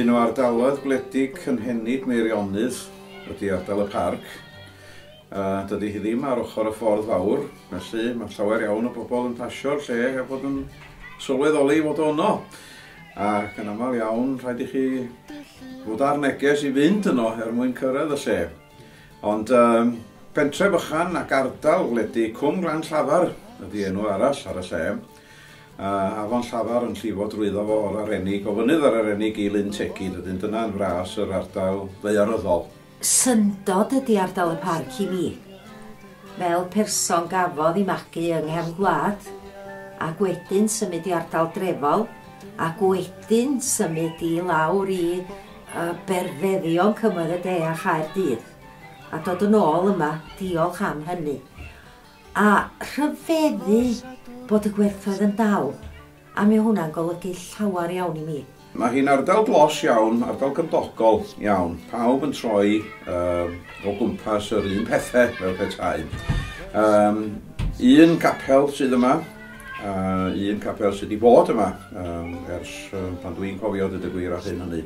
Un o ardaloedd gwledig cynhenid Meirionnydd ydy ardal y Parc. A dydy hi ddim ar ochr y ffordd fawr, felly mae llawer iawn o bobl yn pasio'r lle heb fod yn sylweddoli fod o yno. Ac yn aml iawn, rhaid i chi fod ar neges i fynd yno er mwyn cyrraedd y lle. Ond um, pentre bychan ac ardal wledig Cwm Glan Llafar ydy enw arall ar y lle. A afon Llafar yn llifo drwyddo fo o'r arenig, o fynydd ar arenig i Lyn Tegid, ydyn dyna'n fras yr ardal ddeiaryddol. Syndod ydi ardal y parc i mi. Fel person gafodd i magu yng nghefn gwlad, ac wedyn symud i ardal drefol, ac wedyn symud i lawr i yy berfeddion Cymoedd y De a Chaerdydd, a dod yn ôl yma, diolch am hynny. A rhyfeddu bod y gwerthoedd yn dal. A mae hwnna'n golygu llawer iawn i mi. Mae hi'n ardal dlos iawn, ardal gymdogol iawn. Pawb yn troi uh, o gwmpas yr un pethau fel petai. Um, un capel sydd yma, uh, un capel sydd wedi bod yma um, ers uh, pan dwi'n cofio dyd y gwir ar hyn hynny.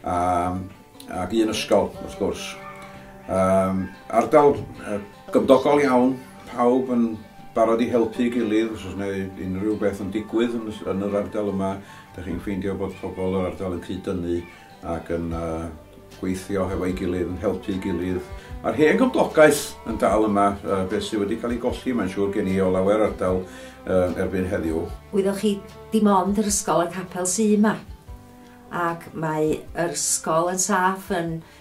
Um, ac un ysgol, wrth gwrs. Um, ardal uh, Gymdogol iawn, pawb yn barod i helpu'i gilydd os oes yna unrhyw beth yn digwydd yn y yn yr ardal yma. Dych chi'n ffeindio bod pobl yr ardal yn cyd-dynnu ac yn uh, gweithio hefo'i gilydd, yn helpu'i gilydd. Mae'r hen gymdogaeth yn dal yma, uh, beth sydd wedi cael ei golli, mae'n siŵr gen i o lawer ardal uh, erbyn heddiw. Wyddoch chi, dim ond yr ysgol a'r capel sydd yma ac mae yr ysgol yn saff, yn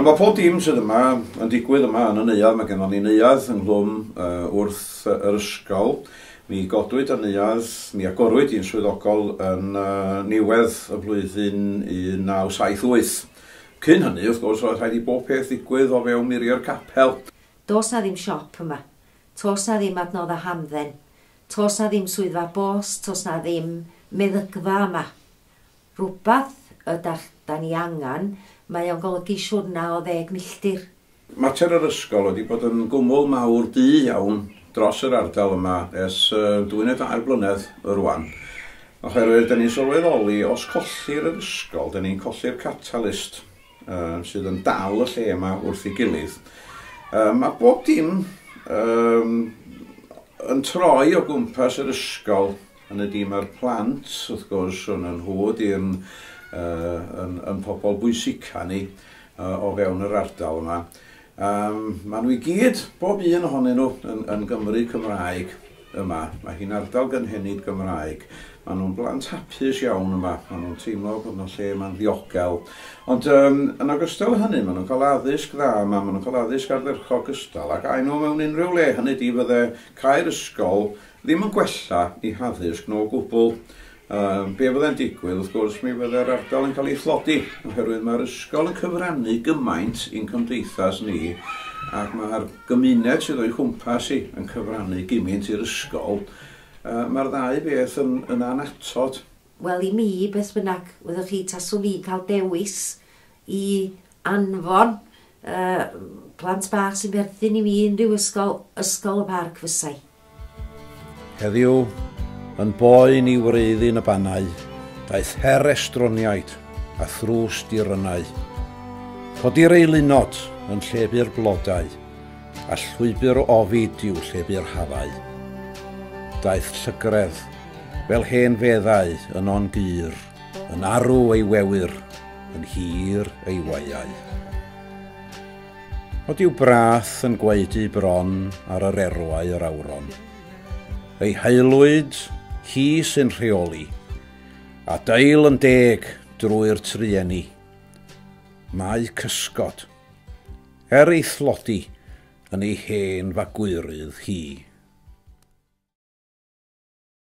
Ond mae pob dim sydd yma yn digwydd yma yn y neuadd. Mae gennym ni neuadd ynghlwm uh, wrth uh, yr ysgol. Mi godwyd y neuadd, mi agorwyd i'n swyddogol yn uh, niwedd y flwyddyn 1978. Cyn hynny, wrth gwrs, roedd rhaid i bob peth ddigwydd o fewn muriau'r capel. Does na ddim siop yma. To's 'na ddim adnodda hamdden, to's 'na ddim swyddfa bos, to's 'na ddim meddygfa yma. Rwbath ydach 'da ni angan, mae o'n golygu siwrna o ddeg milltir. Mater yr ysgol ydi bod yn gwmwl mawr du iawn dros yr ardal yma ers dwy neu dair blynedd rwan, oherwydd 'da ni'n sylweddoli os collir yr ysgol, 'da ni'n colli'r catalyst. uh, sydd yn dal y lle yma wrth ei gilydd. Uh, mae bob dim um, yn troi o gwmpas yr ysgol yn y dim a'r plant, wrth gwrs, yn yn nhw ydy'n uh, yn, yn pobl bwysica ni uh, o fewn yr ardal yma. Yym, maen nhw i gyd, bob un ohonyn nhw, yn, yn Gymry Cymraeg yma. Mae hi'n ardal gynhenid Gymraeg. Maen nhw'n blant hapus iawn yma. Maen nhw'n teimlo bod yna lle yma'n ddiogel. Ond um, yn ogystal â hynny, maen nhw'n cael addysg dda yma, maen nhw'n cael addysg ardderchog gystal ac aen nhw mewn unrhyw le. Hynny di, fydde cael ysgol ddim yn gwella i haddysg nhw o gwbl. Yym, be fyddai'n digwydd, wrth gwrs, mi fyddai'r ardal yn cael ei thlodi, oherwydd mae'r ysgol yn cyfrannu gymaint i'n cymdeithas ni, ac mae'r gymuned sydd o'i chwmpas hi yn cyfrannu gymint i'r ysgol, yy, mae'r ddau beth yn, yn annatod. Wel, i mi, beth bynnag, fyddwch chi, taswn i'n cael dewis i anfon y plant bach sy'n berthyn i mi i unrhyw ysgol, Ysgol y Parc fysai. Heddiw, yn boen i wreiddyn y bannau, daeth her estroniaid a thrws dirynnau. Codi'r eilunod yn llebu'r blodau, a llwybr o ofid i'w llebu'r hafau. Daeth llygredd, fel hen feddau, yno'n gur. Yn arw ei wewyr, yn hir ei waiau. Nod yw brath yn gwaedu bron ar yr erwau yr awron. Ei haelwyd, hi sy'n rheoli, a dail yn deg drwy'r trueni. Mae cysgod, er ei thlodi, yn ei hen fagwyrydd hi.